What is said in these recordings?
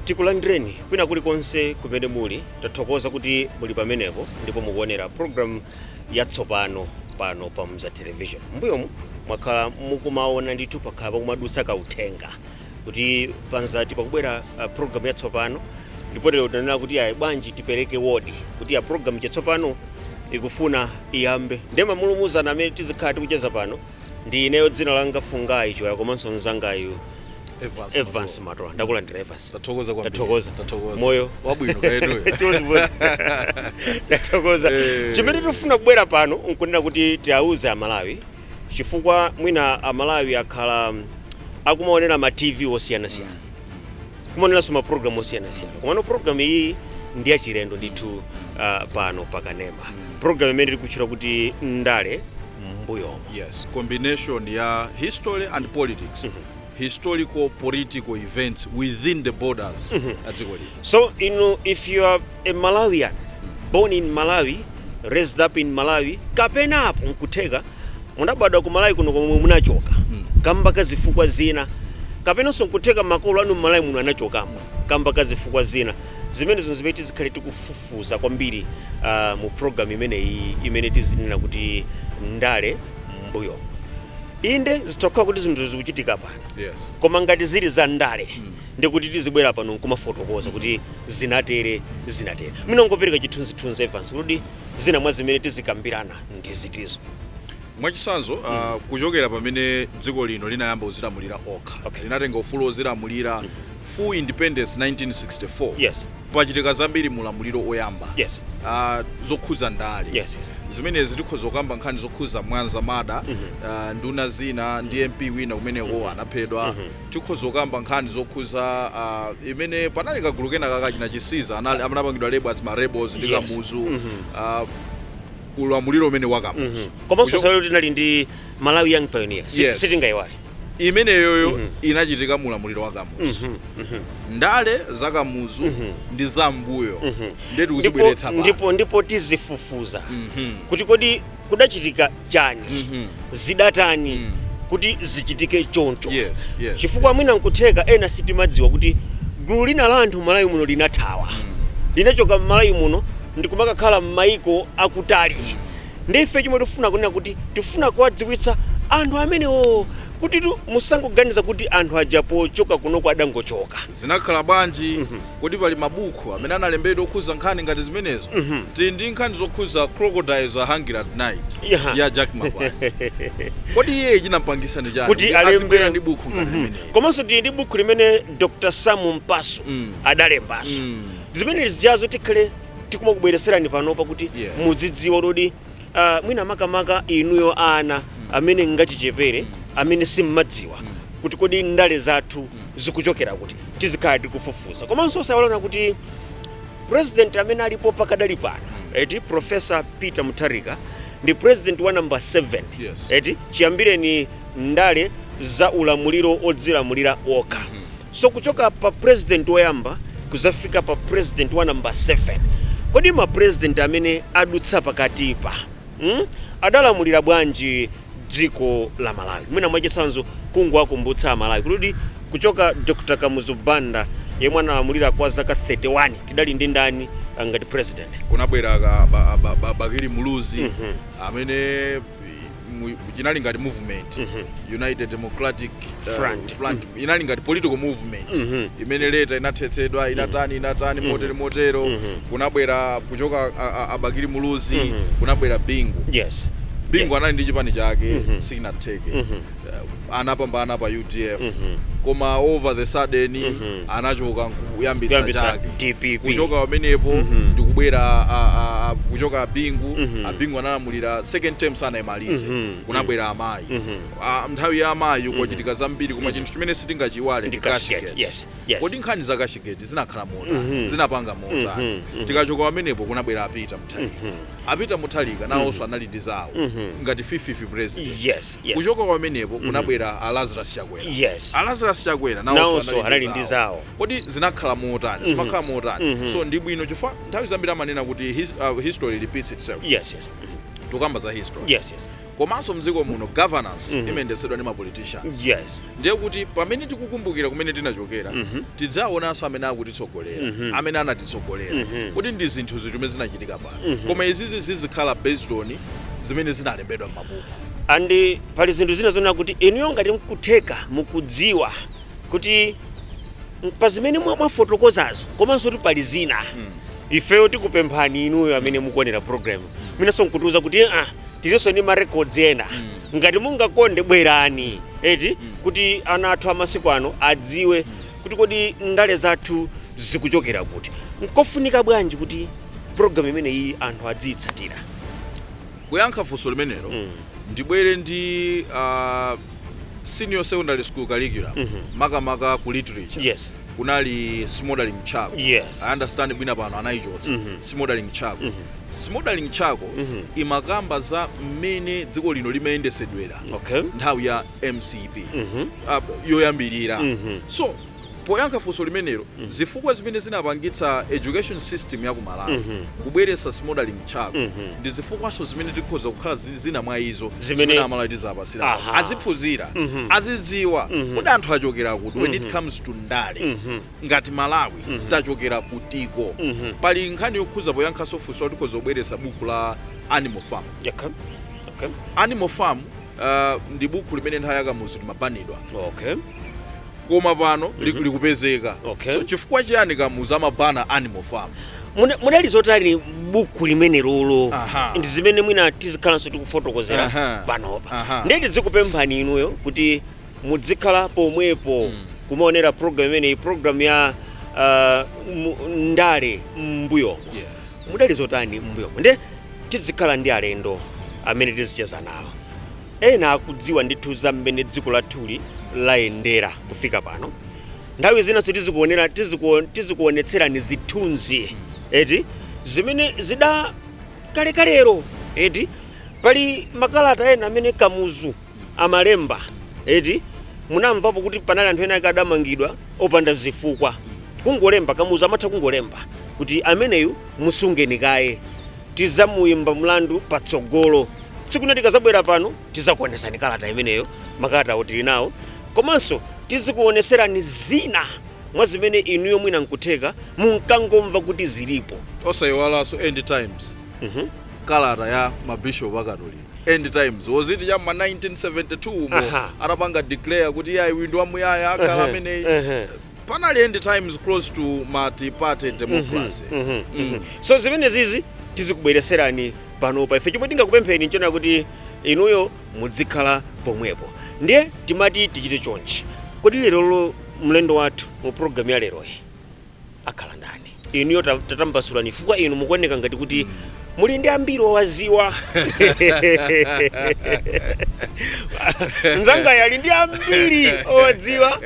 tikulandireni kwina kulikonse kumene muli tathokoza kuti muli pamenepo ndipo mukuonera programu yatsopano pano pa mzati television mbuyomu mwakhala mukumaona ndithu pakhala pakumadutsa kauthenga kuti pa mzati pakubwera uh, program yatsopano ndipo lero tinanena kuti ayi bwanji tipereke wodi kuti ya program yatsopano ikufuna iyambe ndiye mamulumuzana amene tizikhala tikucheza pano ndi ineyo dzina langa fungayi choya komanso mzangayu Evans evans Matola. matola ndakulandira evans Tathokoza kwambiri. Tathokoza. Tathokoza. Moyo. Wabwino kaya inuyo. Sanibonani. ndathokoza Eh. chimene tikufuna kubwera pano nkunena kuti tiauze amalawi chifukwa mwina amalawi akhala akumaonera ma tv osiyanasiyana kumaoneranso ma program osiyanasiyana komano program iyi ndi yachilendo ndithu uh, pano pakanema program imene tikutchula kuti ndale mbuyomu yes combination ya history and politics historical political events within the borders a dziko lino so inu if you are A Malawian, born in Malawi, raised up in Malawi, kapenanso nkutheka munabadwa ku Malawi kuno koma munachoka kamba ka zifukwa zina, kapenanso nkutheka makolo anu m'Malawi muno anachokamo kamba ka zifukwa zina. Zimenezo nzimene tizikhala tikufufuza kwambiri ah, mu program imeneyi imene tizinena kuti ndale m'mbuyomu. Inde zitha kukhala kuti zinthu zikuchitika pano Yes. koma ngati zili za ndale Ndiye kuti tizibwera pano nkumafotokoza kuti zinatere, zinatere. Mwina ungopereka chithunzithunzi Evans kuti zina mwa zimene tizikambirana ndi zitizo. Mwachitsanzo, ah, mm. uh, kuchokera pamene dziko lino linayamba kuzilamulira lokha okay. linatenga ufulu wozilamulira mm. full independence 1964 yes pachitika zambiri mulamuliro oyamba yes. uh, zokhuza ndale yes, yes. zimenezi tikhoza kukamba nkhani zokhuza mwanza murder mm -hmm. uh, nduna zina ndi mp wina kumeneko mm -hmm. anaphedwa mm Tikhoza kukamba nkhani zokhuza a imene panali kagulu kena ka achina chisiza anali anapangidwa label as ma rebels ndi Yes. kamuzu a ulamuliro umenewo wa kamuzu komanso Kucho- nthawi yoti tinali ndi malawi young pioneer Si- Yes. sitingayiwale imeneyoyo inachitika mu ulamuliro wa kamuzu ndale za kamuzu ndi za mbuyo nde ndipo, tikuzibweretsa pa ndipo, ndipo tizifufuza kuti kodi kudachitika chani Mhm. zidatani Mm. kuti zichitike choncho Yes, yes, chifukwa yes. mwina nkutheka ena sitimadziwa kuti gulu lina la anthu m'malawi muno linathawa linachoka m'malawi muno ndikumakakhala m'mayiko akutali ndi ife chomwe tifuna nkunena kuti tifuna kuwadziwitsa anthu amenewo kuti tu- musangoganiza kuti anthu aja pochoka kunoko adangochoka zinakhala bwanji Kodi pali mabuku amene analembedwa okhuza nkhani ngati zimenezo? Tili ndi nkhani zokhuza Crocodiles Are Hungry At Night Yaha. ya Jack Mapanje. Kodi iyeyo chinampangisa ndi chani kuti kuti alembe adzibwera ndi buku ngati Mhm. limeneli? komanso tili ndi buku limene dr samu mpasu Mm. adalembaso Mm. zimene zijazo tikhale tikumakubwereserani panopa kuti Yeah. muzidziwa kuti uh, mwina makamaka inuyo ana amene ngachichepere amene simmadziwa kuti kodi ndale zathu zikuchokera kuti tizikhala tikufufuza komanso osaiwala kuti president amene alipo pakadali pano eti professor peter mutharika ndi president wa number 7 Yes. eti chiyambireni ndale za ulamuliro odzilamulira okha. So kuchoka pa president oyamba kuzafika pa president wa number 7 kodi ma president amene adutsa pakatipa mm? adalamulira bwanji dziko la Malawi? Mwina mwachisanzo kungowakumbutsa aMalawi kuti kuchoka Dr. Kamuzu Banda yemwe analamulira kwa zaka 31 tidali ndi ndani ah, ngati president? Kunabwera Bakili Muluzi mm -hmm. amene mu- inali ngati movement united democratic uh, Front. front inali ngati political movement Mhm. imene later inathetsedwa inatani inatani motere motero kunabwera kuchoka a- a- abakili muluzi kunabwera bingu yes bingu Yes. anali ndi chipani chake sinatheke Mhm. Uh, anapambana pa udf koma all of a sudden anachoka nkuyambitsa Kuyambitsa chake DPP. kuchoka pamenepo ndikubwera a- a- a- kuchoka abingu abingu analamulira second term sanayimalize kunabwera amayi Ah, nthawi ya amayi kwachitika zambiri koma chinthu chimene sitingachiiwale Ndi ndi Cashgate. Cashgate. Yes, yes. kodi nkhani za Cashgate zinakhala motani zinapanga motani tikachoka pamenepo kunabwera apita mthawi Apeter mutharika nawoso anali ndi zawo ngati fifth president Yes, yes. kuchoka pamenepo kunabwera a lazarus chakwera Yes. a lazarus chakwera Nawoso nawoso anali anali ndi ndi zawo. zawo kodi zinakhala motani zimakhala motani so ndi bwino chifukwa nthawi zambiri amanena kuti his, uh, history repeats itself Yes, yes. Mhm. tukamba za history Yes, yes. komanso mdziko muno governance mm -hmm. imayendetsedwa ndi mapoliticians yes. ndiye kuti pamene tikukumbukira kumene tinachokera mm -hmm. tidzaonanso amene akutitsogolera mm -hmm. amene anatitsogolera mm -hmm. kuti ndi zinthu ziti zimene zinachitika pano mm -hmm. koma izizi zizikhala based on zimene zinalembedwa m'mabuku andi pali zinthu zina zonena kuti inuyo ngati mkutheka mukudziwa kuti pa zimene mwafotokozazo komanso kuti pali zina mm. ifeyo tikupemphani inuyo amene mukuonera program mwinanso nkutiuza kuti ah, tilinawonso ndi marecords ena mm. ngati mungakonde bwerani eti mm. kuti ana athu amasiku ano adziwe mm. kuti kodi ndale zathu zikuchokera kuti nkofunika bwanji kuti program imene iyi anthu adziyitsatira kuyankha funso limenelo mm. ndibwere ndi uh, senior secondary school curriculum mm -hmm. makamaka ku literature yes kunali smouldering charcoal yes i understand mwina pano anayichotsa mm -hmm. smouldering charcoal mm -hmm. smouldering charcoal mm -hmm. imakamba za mmene dziko lino limayendesedwera okay. nthawi ya mcp mm -hmm. uh, yoyambirira mm -hmm. so Poyankha funso limenelo, zifukwa zimene zinapangitsa education system ya ku Malawi kubweretsa Smouldering Charcoal ndi zifukwanso zimene tikhoza kukhala zili zina mwa izo zimene a Malawi tizawapatsira awa. Aha. Aziphunzira, azidziwa kodi anthu achokera kuti when it comes to ndale. Ngati Malawi tachokera kutiko. Pali nkhani yokhuza poyankhanso funso tikhoza kubweretsa buku la Animal Farm. Yakha. Okay. Animal Farm ah, ndi buku limene nthawi ya Kamuzu limabanidwa. Okay. koma pano li- Mhm. likupezeka Okay. so chifukwa chiyani kamuzu amabana animal farm Muna- munali zotani buku limenelolo Aha. ndi zimene mwina tizikhalanso tikufotokozera Aha. panopa Aha. ndiye tidzikupemphani inuyo kuti mudzikhala pomwepo kumaonera program imeneyi program ya uh, mu- ndale m'mbuyomo yes. mudali zotani m'mbuyomo nde tidzikhala ndi alendo amene tizicheza nawo Ena akudziwa ndithu za mmene dziko lathuli layendera kufika pano. Nthawi zinanso tizikuonera tizikuo, tizikuonetserani zithunzi eti zimene zida kalekalero eti pali makalata ena amene Kamuzu amalemba eti munamvapo kuti panali anthu ena ake adamangidwa opanda zifukwa kungolemba Kamuzu amatha kungolemba kuti ameneyu musungeni kaye tizamuimba mlandu patsogolo tsiku lina tikazabwera pano tizakuonesani kalata imeneyo makalata awo tili nawo komanso tizikuoneserani zina mwa zimene inuyo mwina nkutheka munkangomva kuti zilipo osayiwalanso end times Mhm. kalata ya mabishop akatolika end times was it cha ma 1972 umo Aha. atapanga declare kuti iye ayiwindu wamuyaya akhala Ehe, ameneyi ehe. panali end times close to multiparty democracy Mhm, mhm. so zimenezizi tizikubwereserani panopa. Ife chomwe tingakupempheni nchonena kuti inuyo mudzikhala pomwepo. Ndiye timati tichite chonchi. Kodi lerolo mlendo wathu mu program ya leroyi akhala ndani? Inuyo ta- tatambasulani chifukwa inu mukuoneka ngati kuti muli ndi ambiri owaziwa. Nzangayo ali ndi ambiri owadziwa.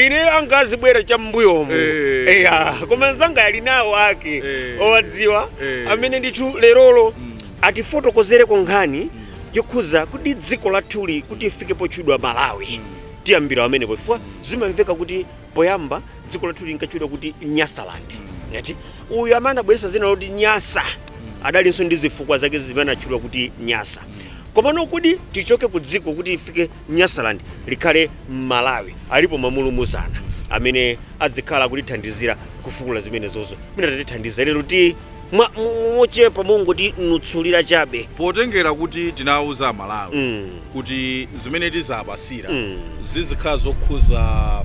ine anga azibwera cha m'mbuyomo Eh. eya koma nzangayu ali nawo ake Eh. owadziwa Eh. amene ndithu lerolo atifotokozereko nkhani yokhuza kuti dziko lathuli kuti lifike potchedwa malawi tiyambira pamenepo chifukwa zimamveka kuti poyamba dziko lathu linkatchedwa kuti nyasaland ngati uyu amene anabweretsa zina loti nyasa adalinso ndi zifukwa zake zimene anatchedwa kuti nyasa komano kuti tichoke ku dziko kuti tifike Nyasaland likhale Malawi alipo mulumuzana amene adzikhala akutithandizira kufukula zimenezozo mwina atatithandiza lero ti mwa mochepa mongotinutsulira chabe. Potengera kuti tinawuza amalawi mm. kuti zimene tizapasira mm. zizikhala zokhuza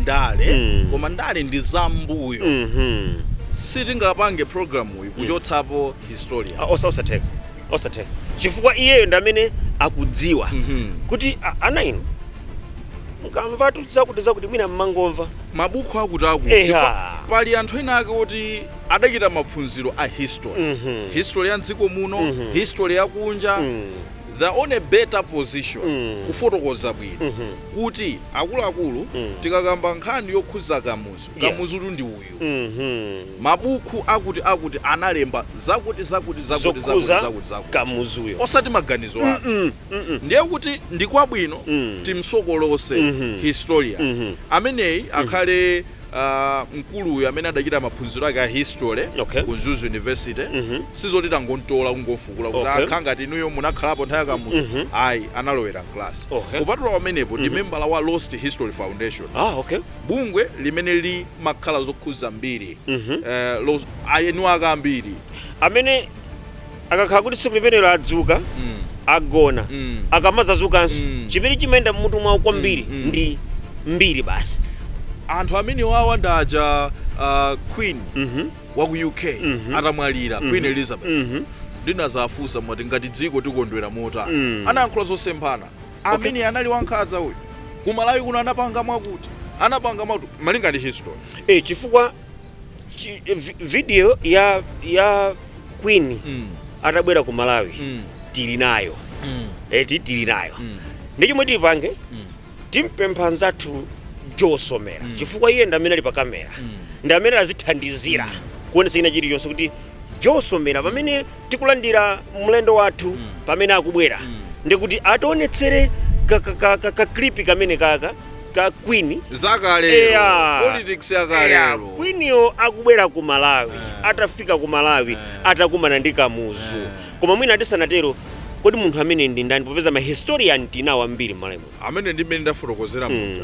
ndale mm. koma ndale ndi zambuyo mm -hmm. sitingapange programuyi mm. kuchotsapo historian ah, osa- osatheka osatheka chifukwa iyeyo ndi amene akudziwa kuti "Ah, ana inu mukamvatu zakuti zakuti mwina mmangomva mabuku akuti akuti Eha. Chifukwa pali anthu ena ake oti adachita maphunziro a history Mhm. history ya mdziko muno Mhm. history ya kunja Mm. they're on a better position Mm. kufotokoza bwino Mhm. kuti akuluakulu Mm. tikakamba nkhani yokhuza kamuzu Yes. kamuzutu ndi uyu uyu. Mabuku akuti akuti analemba zakuti zakuti zakuti zakuti zakuti zakuti. Osati maganizo athu. Ndiye kuti ndi kwabwino timsokolose historian ameneyi akhale aah mkulu uyu amene adachita maphunziro ake a history ku Mzuzu University sizoti tangomtola kungomfukula kuti aah khala ngati inuyo munakhalapo nthawi ya Kamuzu ayi analowera mclass. Kupatula pamenepo ndi membala wa Lost History Foundation. bungwe limene limakhala zokhudza mbiri Mhm. eh, los- a- eni wake a mbiri amene akakhala kuti tsiku limenelo adzuka Mm. agona Mm. akamadzazukanso Mm. chimene chimayenda mmutu mwawo kwambiri Mm, mm. ndi mbiri basi anthu amenewawa ndaja uh, queen Mhm. wa ku uk Mhm. atamwalira Mhm. queen elizabeth Mhm. ndinazawafunsa mwati ngati dziko tikondwera motani Mm. anayankhula zosemphana amene anali wankhanza uyu kumalawi kuno anapanga mwakuti anapanga mwakuti malinga ndi history e, chifukwa chi, vi, video ya ya queen mm. atabwera ku malawi mm. tili nayo mm. eti tili nayo mm. ndi chomwe tipange mm. timpempha nzathu Joe Somera mm. chifukwa iye ndi amene ali pa kamera mm. ndi amene azithandizira mm. kuonesa china chilichonse kuti Joe Somera pamene tikulandira mlendo wathu pamene akubwera ndikuti ationetsere ka- ka- ka- ka- kaklipi kamenekaka ka queen zakale Eya. politics Eya, yakale queen yo akubwera ku malawi atafika ku malawi atakumana ndi kamuzu koma mwina tisanatero kodi munthu ameneyu ndi ndani popeza ma historian tinawo ambiri mmalawi muno amene ndimene ndafotokozera muja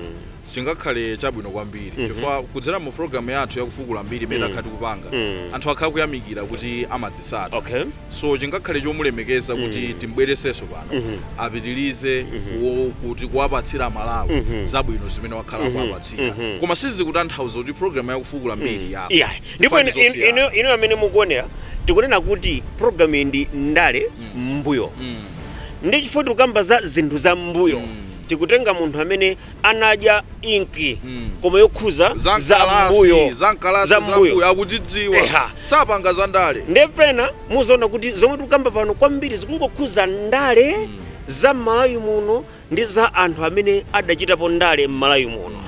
chingakhale chabwino kwambiri mm -hmm. chifukwa kudzera mu program yathu ya kufukula mbiri imene mm. takhala tikupanga mm. anthu akhala kuyamikira kuti amazitsata okay. so chingakhale chomulemekeza kuti mm. timbweresenso pano mm -hmm. apitirize mm -hmm. kuti kuwapatsira amalawi mm -hmm. zabwino zimene wakhala mm -hmm. kuwapatsira mm -hmm. koma sizikutanthauza kuti program ya kufukula mbiri mm. yako yeah. ndipo inu amene mukuonera tikunena kuti program iyi ndi ndale mm. mbuyo mm. ndi chifukwa tikukamba za zinthu za mbuyo mm. tikutenga munthu amene anadya inki koma yokhuza za zam'kalasi mbuyo zam'kalasi za mbuyo zambuyo akudzidziwa Eha. sapanga za ndale ndiye pena muziona kuti zomwe tikukamba pano kwambiri zikungokhuza ndale za m'malawi muno ndi za anthu amene adachitapo ndale m'malawi muno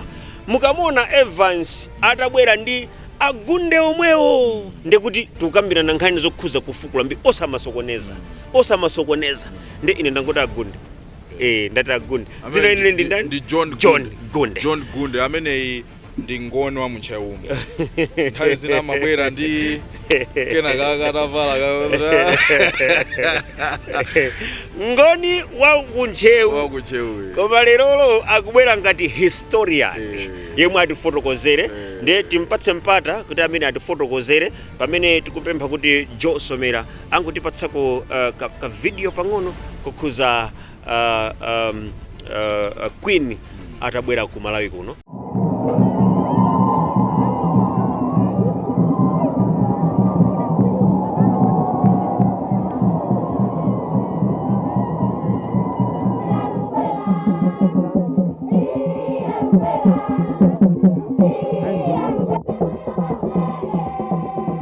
mukamuona evans atabwera ndi agunde omwewo ndiye kuti tikukambirana nkhani zokhuza kufukula mbi osamasokoneza osamasokoneza ndi ine ndangoti agunde eh ndati agunde Amene dzina ine ndi ndani ndi John Gunde. john gunde john gunde ameneyi ndi ngoni wa mu Ntcheumo nthawi zina amabwera ndi kena kaka atavala ka- ngoni wa wa kuntcheu kuntcheuyo koma lerolo akubwera ngati historian Eh. yemwe atifotokozere Eh. ndiye timpatse mpata kuti amene atifotokozere pamene tikupempha kuti Joe Somera angotipatsako ka, ka video pang'ono kokhuza uh, um, uh, Queen atabwera ku Malawi kuno.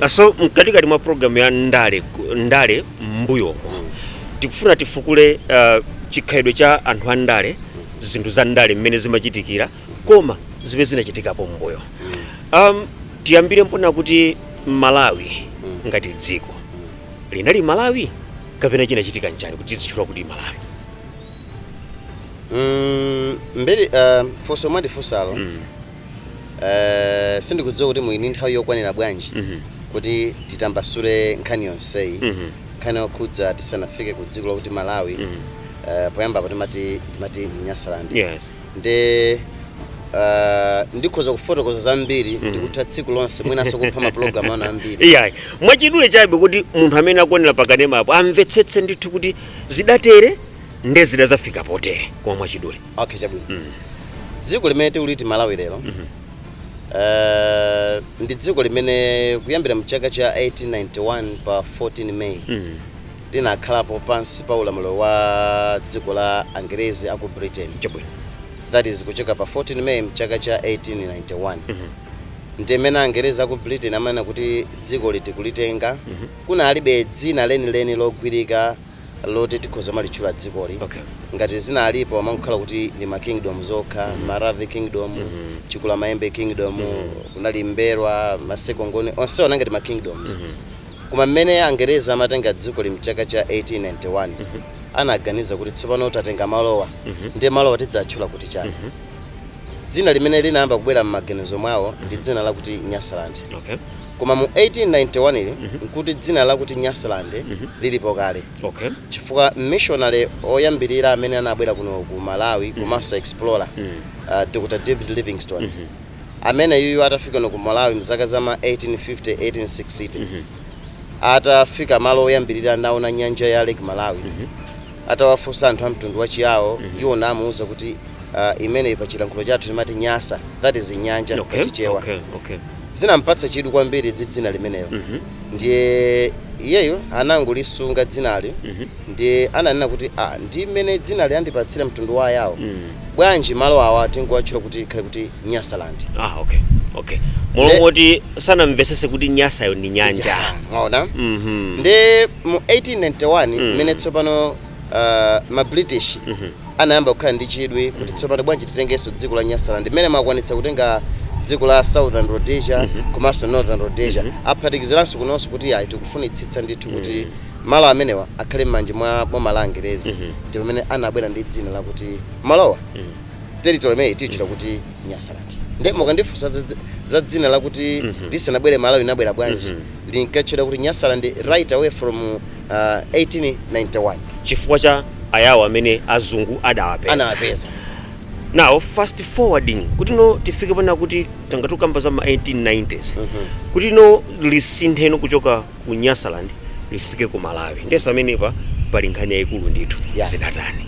Ah, so mkatikati mwa programu ya ndale ku- ndale mbuyo tikufuna tifukule ah, chikhalidwe cha anthu a ndale zinthu za ndale mmene zimachitikira koma zimene zinachitikapo mbuyo um, tiyambire pomwe kuti malawi ngati dziko linali malawi kapena chinachitika nchani kuti tizitchula kuti malawi Mm, mbiri uh, funso mwandifunsalo mm. uh, sindikudziwa kuti muli ndi nthawi yokwanira bwanji mm -hmm. kuti titambasule nkhani yonseyi mm -hmm. nkhani yokhudza tisanafike ku dziko lakuti malawi mm -hmm. uh, poyambapo timati timati ndi nyasaland yes. nde Uh, ndikhoza kufotokoza zambiri mm. ndikutha tsiku lonse mwinanso kupha mapulogalamu ano ambiri iyayi mwachidule chabe kuti munthu amene akuonera pakanemapo amvetsetse ndithu kuti zidatere nde zidazafika potere koma mwachidule okay chabwino mm. dziko limene tikuliti malawi lero mm -hmm. uh, ndi dziko limene kuyambira mchaka cha 1891 pa 14 may mm -hmm. linakhalapo pansi pa ulamuliro wa dziko la angerezi aku britain chabwino that is kuchoka pa 14 may mchaka cha 1891 mm -hmm. ndimene angerezi aku britain amanena kuti dzikoli tikulitenga mm -hmm. kunalibe dzina lenileni logwirika loti tikhoza kumalitchula dzikoli, ngati zinalipo amangokhala kuti ndi ma kingdom zokha, Maravi kingdom, Chikulamayembe kingdom, kunali Mbelwa, Maseko Ngoni, onsewo anali ngati ma kingdoms. Koma mmene Angerezi amatenga dzikoli mchaka cha 1891, anaganiza kuti tsopano tatenga malowa, ndiye malowa tidzatchula kuti chani? Dzina limene linayamba kubwera mmaganizo mwawo ndi dzina lakuti Nyasaland. Koma mu 1891 n'kuti dzina lakuti Nyasaland lilipo kale chifukwa missionary woyambirira amene anabwera kuno ku Malawi komanso explorer, Dr. David Livingstone, ameneyuyu atafika kuno ku Malawi m'zaka za ma 1850, 1860, atafika malo oyambirira naona nyanja ya Lake Malawi, Atawafunsa anthu a mtundu wa Chiyao, iwo namuuza kuti, Ah, imeneyi pa chilankhulo chathu timati Nyasa, that is Nyanja pa Chichewa. okay, okay. Zinampatsa chidwi kwambiri ndi dzina limenelo. Ndiye iyeyo anangolisunga dzinali ndiye ananena kuti ah, ndi mmene dzinali andipatsira mtundu wa Ayao. bwanji malo awa tingowatchula kuti ikhale kuti nyasaland. ah okay okay molo Nde- moti sanamvesese kuti nyasayo ndi nyanja Ya, mwaona Mhm. ndiye mu 1891 Mm. mmene tsopano uh, ma british Mhm. anayamba kukhala ndi chidwi kuti tsopano bwanji titengenso dziko la nyasaland mmene akwanitsa kutenga dziko la southern rhodesia komanso northern rhodesia aphatikiziranso kunonso kuti ayi tikufunitsitsa ndithu kuti malo amenewa akhale mmanja mwa boma la angerezi ndi pamene anabwera ndi dzina lakuti malowa territory imeneyi tiyitchula kuti nyasaland nde mukandifunsa za dzi- za dzina lakuti lisanabwere malawi linabwera bwanji linkatchedwa kuti nyasaland right away from uh, 1891 chifukwa cha ayawo amene azungu adawapeza anawapeza now fast forwarding kuti no tifike pena kuti tangoti tikamba za ma 1890s kuti no lisinthe ino kuchoka ku Nyasaland lifike ku Malawi ndiye pamenepa pali nkhani yaikulu ndithu Yeah. zidatani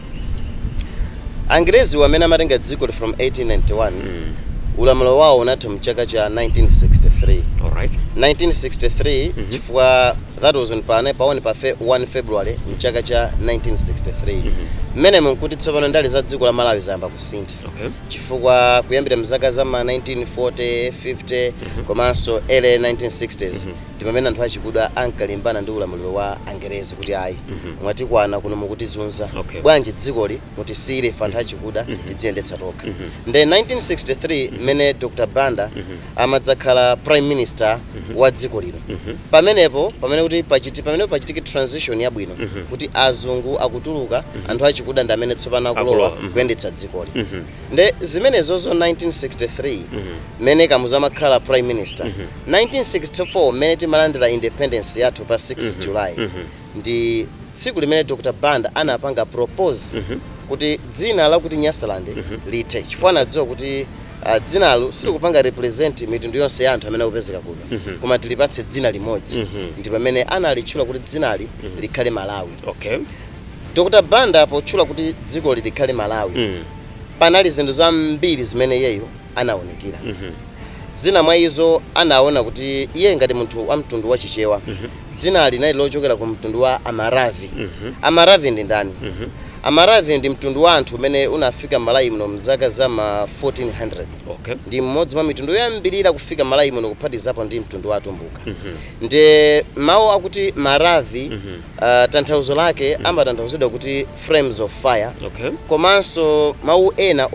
Angerezi aja mmene amatenga dzikoli from 1891 mm. ulamuliro wawo unatha mchaka cha 1963 alright 1963 Mhm. chifukwa that was on pane paone pa fe- 1 february mchaka cha 1963 Mhm. mmenemo nkuti tsopano ndale za dziko la malawi zayamba kusintha okay chifukwa kuyambira mzaka za ma 1940 50 komanso early 1960s Mhm. ndi pamene anthu achikuda ankalimbana ndi ulamuliro wa angerezi kuti ayi mwatikwana kuno mukutizunza Okay. bwanji dzikoli mutisiyire ife anthu achikuda tidziyendetsa tokha nde 1963 mmene dr banda amadzakhala prime minister wa dziko lino pamenepo pamene kuti pachiti pamene pachitike transition yabwino kuti azungu akutuluka anthu achikuda ndi amene tsopano akulowa Akulowa, mhm. kuyendetsa dzikoli Nde zimenezozo 1963 mene Kamuzu amakhala prime minister 1964 mene timalandila independence yathu pa 6 July ndi tsiku limene Dr Banda anapanga propose kuti dzina lakuti Nyasaland lithe chifukwa anadziwa kuti ah, dzinali silikupanga represent mitundu yonse ya anthu amene akupezeka kuno koma tilipatse dzina limodzi ndi pamene analitchula kuti dzinali likhale Malawi Okay. Dr Banda potchula kuti dzikoli likhale Malawi panali zinthu zambiri zimene iyeyo anaunikira. Zina mwa izo anaona kuti iye ngati munthu wa mtundu wa Chichewa dzinali linali lochokera ku mtundu wa Amaravi. Amaravi ndi ndani? Amaravi ndi mtundu wa anthu umene unafika Malawi muno mzaka za ma 1400. Ndi mmodzi mwa mitundu yoyambirira kufika Malawi muno kuphatikizapo ndi mtundu wa Atumbuka. Ndiye mawu akuti Maravi. Uh, tanthauzo lake mm. amatanthauzidwa kuti flames of fire okay. komanso mawu ena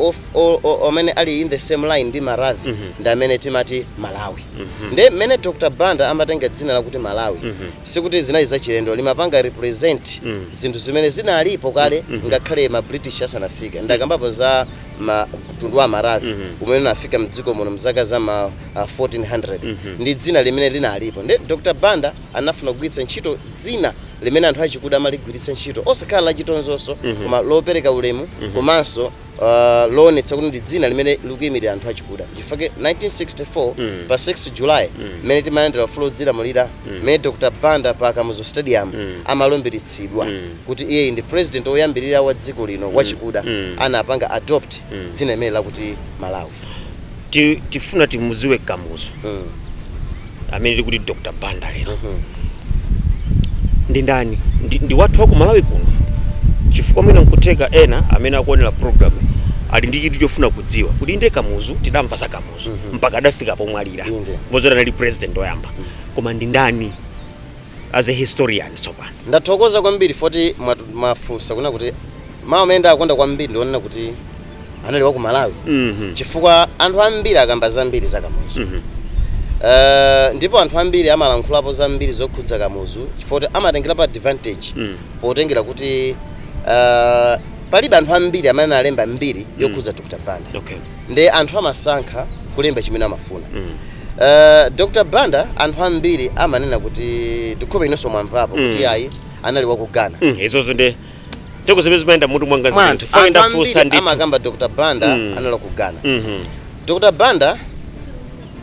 amene ali in the same line ndi maravi mm -hmm. ndi amene timati malawi mm -hmm. nde mmene dr banda amatenga dzina lakuti malawi mm -hmm. sikuti zinali zachilendo limapanga represent mm -hmm. zinthu zimene zinalipo kale mm -hmm. ngakhale ma british asanafika ndakambapo za mtundu wa maravi mm -hmm. umene unafika mdziko muno mzaka za ma uh, 1400 mm -hmm. ndi dzina limene linalipo nde dr banda anafuna kugwiritsa ntchito dzina limene anthu achikuda amaligwiritsa ntchito osakhala lachitonzo koma lopereka ulemu komanso uh, loonetsa kuti ndi dzina limene likuyimirira anthu achikuda chifukwa 1964 pa 6 july mmene timalandira ufulu wodzilamulira mmene dr banda pa kamuzu stadium amalumbiritsidwa kuti iyeyi ndi president woyambirira wa dziko lino wachikuda anapanga adopt dzina limeneli lakuti malawi Ti- tifuna timuziwe kamuzu Mm. amene tikuti dr banda lero Mhm. ndi ndani ndi, ndi wathu wa ku malawi kuno chifukwa mwina nkutheka ena amene akuonera program ali ndi chidwi chofuna kudziwa kuti inde kamuzu tidamva za kamuzu Mhm. mpaka adafika pomwalira Inde. komanso anali president oyamba koma ndi ndani as a historian tsopano ndathokoza kwambiri poti mwatu- mwafunsa kunena kuti mawu amene ndakonda kwambiri ndi onena kuti anali wa ku malawi Mhm. chifukwa anthu ambiri akamba zambiri za kamuzu Mhm. Eh, ndipo anthu ambiri amalankhulapo zambiri zokhudza kamuzu chifukwa kuti amatengerapo advantage Mm. potengera kuti eh, palibe anthu ambiri amene alemba mbiri yokhudza dr banda Okay. nde anthu amasankha kulemba chimene amafuna Mm. Eh, dr banda anthu ambiri amanena kuti ndikuhope inonso mwamvapo kuti Mm. ayi anali wa ku ghana Mm. Izozo ndi teke zimene zimayenda mmutu mwanga mwa zimene anthu chifukwa anthu ndafunsa ambiri ndithu amakamba dr banda Mm. anali ku ghana Mhm. dr banda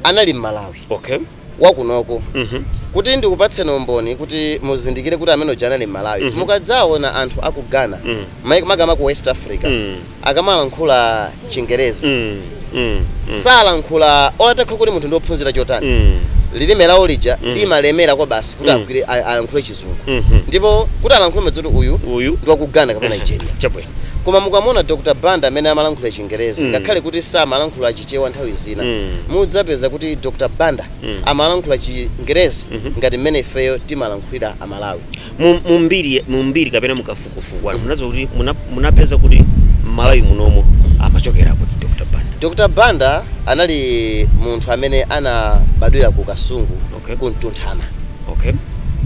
anali mmalawi okay wakunoko Mhm. kuti ndikupatseni umboni kuti muzindikire kuti amene uja anali mmalawi Mhm. mukadzaona anthu aku ghana Mhm. makamaka ku west africa Mm. akamalankhula chingerezi Mm, mm, mm, salankhula olo atakhala kuti munthu ndiophunzira chotani mm, lilime lawo lija Mm. limalemera kwabasi kuti Mm. agwire a- alankhule chizungu mhm. ndipo kuti alankhule mumadziwa kuti uyu uyu ndi wa ku ghana kapena nigeria chabwino koma mukamuona dr banda mmene amalankhula chingerezi Mm. ngakhale kuti samalankhula chichewa nthawi zina Mm. mudzapeza kuti dr banda Mm. amalankhula chingerezi Mhm. ngati mmene ifeyo timalankhulira amalawi Mu- mu mbiri- mu mbiri kapena mu kafu kufukwani munadziwa kuti muna- munapeza kuti mmalawi muno amachokera kuti dr banda dr banda anali munthu amene anabadwira ku kasungu Okay. ku mtunthama okay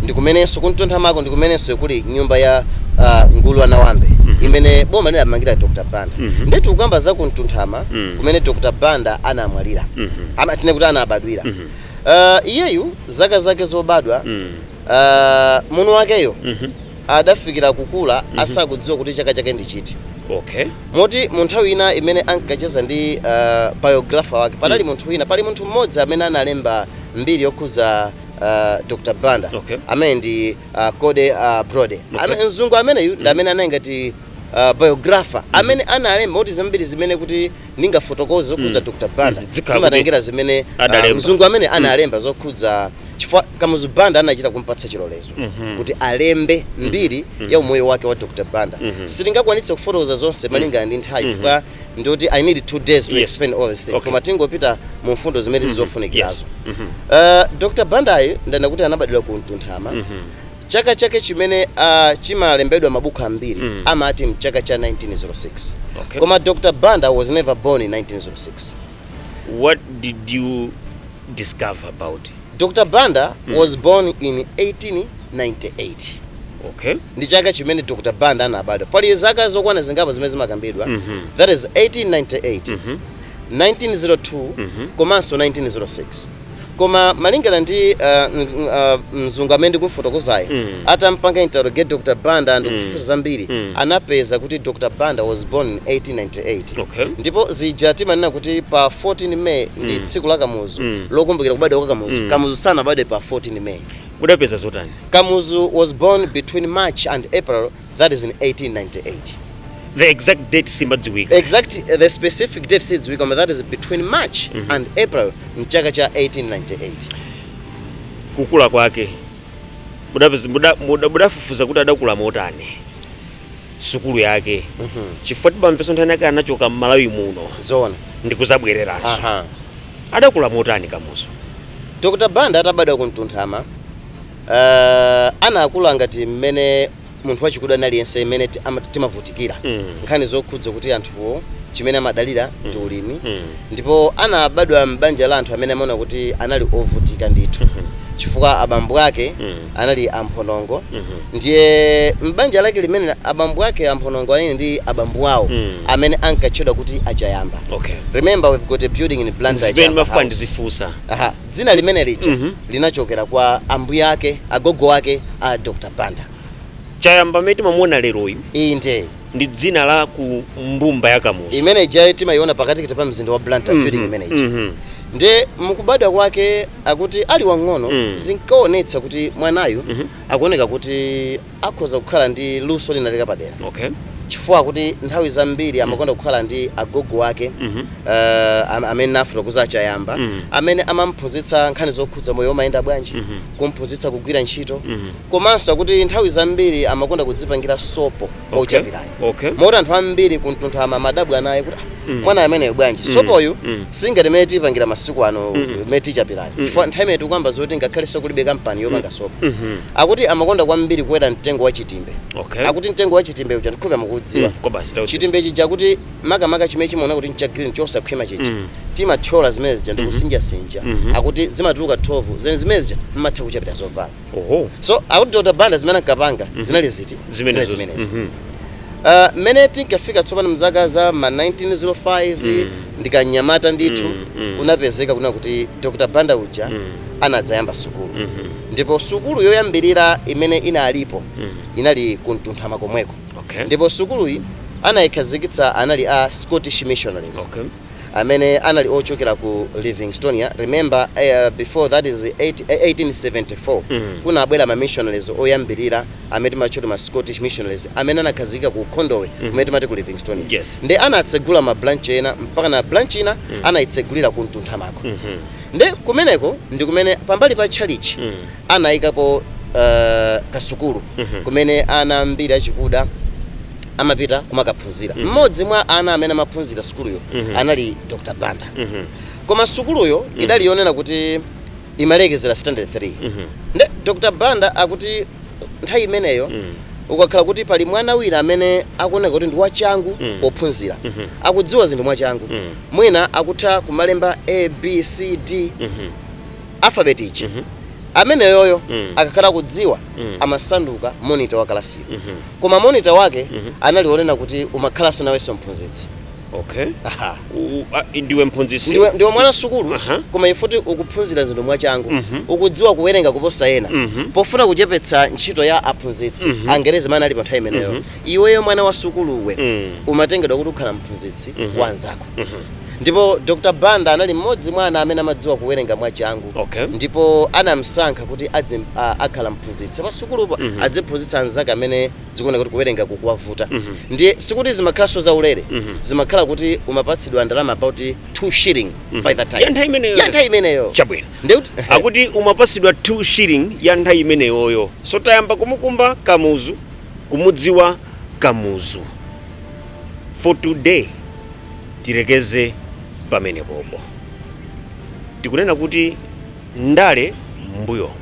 ndikumenenso kumtunthamako ndikumenenso kuli nyumba ya uh, nguru ya nawambe Mhm. imene boma linawamangira dr banda Mhm. nde tikukamba za kumtunthama Mhm. kumene dr banda anamwalira Mhm. Ama- tinene kuti anabadwira Mhm. uh, iyeyu zaka zake zobadwa Mhm. uh, mwini wakeyo Mhm. adafikira kukula asakudziwa kuti chaka chake ndi chiti. Okay. Moti mu nthawi ina imene ankacheza ndi uh, biographer wake panali munthu wina pali munthu mmodzi amene analemba mbiri yokhuza uh, Dr. Banda Okay. amene ndi uh, Cody uh, Brody Okay. amene mzungu ameneyu ndi amene anali ngati uh, biographer amene analemba moti zambiri zimene kuti ndingafotokoze zokhudza Mm. dr banda Mhm. Zikhala zimatengera zimene ah, Adalemba. mzungu amene analemba zokhudza chifukwa kamuzu banda anachita kumpatsa chilolezo Mhm. kuti alembe mbiri Mhm. ya umoyo wake wa dr banda Mhm. sitingakwanitse kufotokoza zonse malingana ndi nthawi Mhm. chifukwa ndikuti i need two days to Yes. explain all these things Okay. koma tingopita mu mfundo zimene Mhm. zili zofunikirazo Yes. Mhm. uh, dr bandayi ndanena kuti anabadwira ku mtunthama Mhm. Chaka chake chimene uh, chimalembedwa mmabuku ambiri mm. amati mchaka cha 1906 okay. Koma Dr. Banda was never born in 1906. What did you discover about it? Dr. Banda mm. was born in 1898. Okay. Ndi chaka chimene Dr. Banda anabadwa. Pali zaka zokwana zingapo zimene zimakambidwa. Mm -hmm. That is 1898. Mm -hmm. 1902 mm -hmm. komanso 1906. Koma malingana ndi mzungu amene ndikumufotokozayo, atampanga interrogate Dr Banda ndikufufuza zambiri anapeza kuti Dr Banda was born in 1898 ndipo zija timanena kuti pa 14 May ndi tsiku la Kamuzu lokumbukira kubadwa kwa Kamuzu, Kamuzu sanabadwe pa 14 May. Mudapeza zotani? Kamuzu was born between March and April 1898. that is in 1898 the exact date simadziwika exact uh, the specific date sidziwika but that is between march mm -hmm. and april mchaka cha 1898 kukula kwake mudafufuza kuti adakula motani sukulu yake mm -hmm. chifukwa tibamvaso mthanu yake anachoka mmalawi muno zona ndikuzabwereranso uh -huh. adakula motani kamuzu dr banda atabadwa kuntunthama Uh, anakula ngati mmene munthu wachikuda aliyense mmene timavutikira mm. nkhani zokhudza kuti anthuwo chimene amadalira mm. ndi ulimi mm. ndipo anabadwa m'banja la anthu amene amaona kuti anali ovutika ndithu mm -hmm. chifukwa abambo ake mm. anali amphonongo mm -hmm. ndiye m'banja lake limene abambo ake amphonongo anali ndi abambo awo mm. amene ankatchedwa kuti achayamba okay. remember we've got a building in Blantyre Dzina limene lija linachokera kwa ambuye ake, agogo ake a Dr Banda. Chayamba amene timamuona lero uyu Inde. ndi dzina la ku mbumba ya Kamuzu. Imene ija timayiona pakatikati pa mzinda wa Blantyre Mhm, building imene ija. mhm. Nde mukubadwa kwake akuti ali wang'ono Mm. zinkaonetsa kuti mwanayu Mhm. akuoneka kuti akhoza kukhala ndi luso linalake lapadera Okay. chifukwa akuti nthawi zambiri amakonda kukhala ndi agogo ake Mhm. eh, am- amene nafotokoza achayamba Mhm. amene amamphunzitsa nkhani zokhudza moyo umayenda bwanji Mhm. kumphunzitsa kugwira ntchito Mhm. komanso akuti nthawi zambiri amakonda kudzipangira sopo Okay. ochapirayo okay moti anthu ambiri kuntunthama amadabwa naye kuti "Ah, mwana ameneyo bwanji Mm. sopoyu Mm. singati mmene tipangira masiku ano Mm. mmene tichapiramu Mm. chifukwa nthawi imene tikukamba zoti ngakhaleso kulibe kampani yopanga sopo Mhm. akuti amakonda kwambiri kukwera mtengo wa chitimbe okay akuti mtengo wa chitimbe uja ndikhulupi mukudziwa Mm, kobasi tauti. chitimbe chija akuti makamaka chimene chimaona kuti ncha green chosakhwima chija Mm. timathyola zimene zija ndikusinjasinja Mhm. akuti zimatuluka thovu ndiye zimene zija mmatha kuchapira zovala Oho. so akuti dr banda zimene ankapanga zinali ziti Zimenezo. Mhm. Ah, mmene tinkafika tsopano mzaka za ma 1905 Mm. ndi kamnyamata ndithu Mm, mm. kunapezeka kunena kuti dr banda uja Mm. anadzayamba sukulu Mhm. ndipo sukulu yoyambirira imene inalipo Mm. inali kuntunthama komweko Okay. ndipo sukuluyi anayikhazikitsa anali a scottish missionaries Okay. amene anali ochokera ku livingstonia remember uh, before that is 8, 1874 mm. kunabwera ma missionaries oyambirira amene timawatcha kuti ma scottish missionaries amene anakhazikika ku khondowe mm. kumene timati ku livingstonia yes. nde anatsegula ma branch ena mpaka na branch ina mm. anayitsegulira ku mtunthama ko mm -hmm. nde kumeneko ndi kumene pambali pa tchalitchi mm. anayikapo uh, kasukulu mm -hmm. kumene ana ambiri achikuda amapita kumakaphunzira Mhm. mmodzi mwa ana amene amaphunzira sukuluyo Mhm. anali dr banda Mhm. koma sukuluyo Mhm. idali yonena kuti imalekezera standard 3 Mhm. nde dr banda akuti nthawi imeneyo Mhm. ukakhala kuti pali mwana wina amene akuoneka kuti ndi wachangu Mhm. pophunzira Mhm. akudziwa zinthu mwachangu Mhm. mwina akutha kumalemba a b c d Mhm. alphabet chi Mhm. ameneyoyo Mhm. akakhala akudziwa Mhm. amasanduka monitor wa kalasiyo Mhm. Koma monitor wake Mhm. anali wonena kuti umakhalanso nawenso mphunzitsi. okay Aha. U- u- a- ndiwe mphunzitsi Ndiwe ndiwe mwana wasukulu Aha. koma chifukwa choti ukuphunzira zinthu mwachangu. Mhm. Ukudziwa kuwerenga kuposa ena. Mhm. Pofuna kuchepetsa ntchito ya aphunzitsi Mhm. angerezi amene ali pa nthawi imeneyo. Mhm. Iweyo mwana wa sukuluwe Mm. umatengedwa kuti ukhala mphunzitsi Mhm. wanzako. Ndipo Dr. Banda anali m'modzi mwa ana amene amadziwa kuwerenga mwachangu okay. ndipo anamsankha kuti adzi a, akhala mphunzitsi pa sukulupa mm -hmm. adziphunzitsa anzake amene zikuoneka kuti kuwerenga kukuwavuta mm -hmm. ndiye sikuti zimakhalanso za ulere mm -hmm. zimakhala kuti umapatsidwa ndalama about 2 shilling mm -hmm. by that time ya nthawi imeneyo ya nthawi imeneyo chabwino ndiye kuti akuti umapatsidwa 2 shilling ya nthawi imeneyoyo so tayamba kumukumba kamuzu kumudziwa kamuzu for today Tilekeze pamenepopo. Tikunena kuti ndale m'mbuyomu.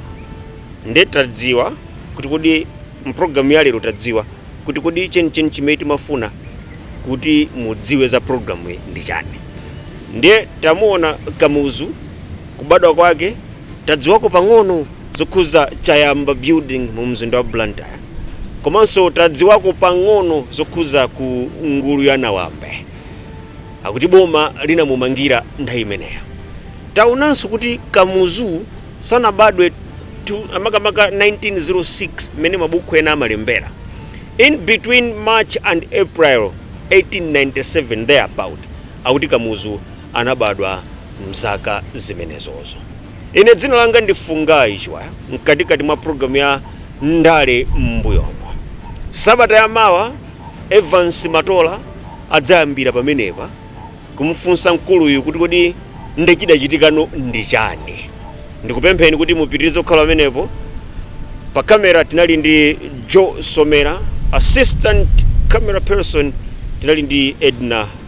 Nde tadziwa kuti kodi mu program ya lero tadziwa kuti kodi chenicheni chimene timafuna kuti mudziwe za program yi ndi chani. Ndiye tamuona Kamuzu kubadwa kwake tadziwako pang'ono zokhuza Chayamba building mu mzinda wa Blantyre. komanso tadziwako pang'ono zokhuza ku nguru ya nawambe akuti boma linamumangira nthawi imeneyo taonanso kuti kamuzu sanabadwe tu- makamaka 1906 mmene mabuku ena amalembera in between march and april 1897 thereabout akuti kamuzu anabadwa mzaka zimenezozo Ine dzina langa ndi Fungai Chiwaya mkatikati mwa program ya ndale m'mbuyomo. Sabata ya mawa Evans Matola adzayambira pamenepa kumufunsa mkuluyu kuti kodi nde chidachitikano ndi chani. Ndikupempheni kuti mupitirize kukhala pamenepo. Pa camera tinali ndi Joe Somera, assistant camera person tinali ndi Edna.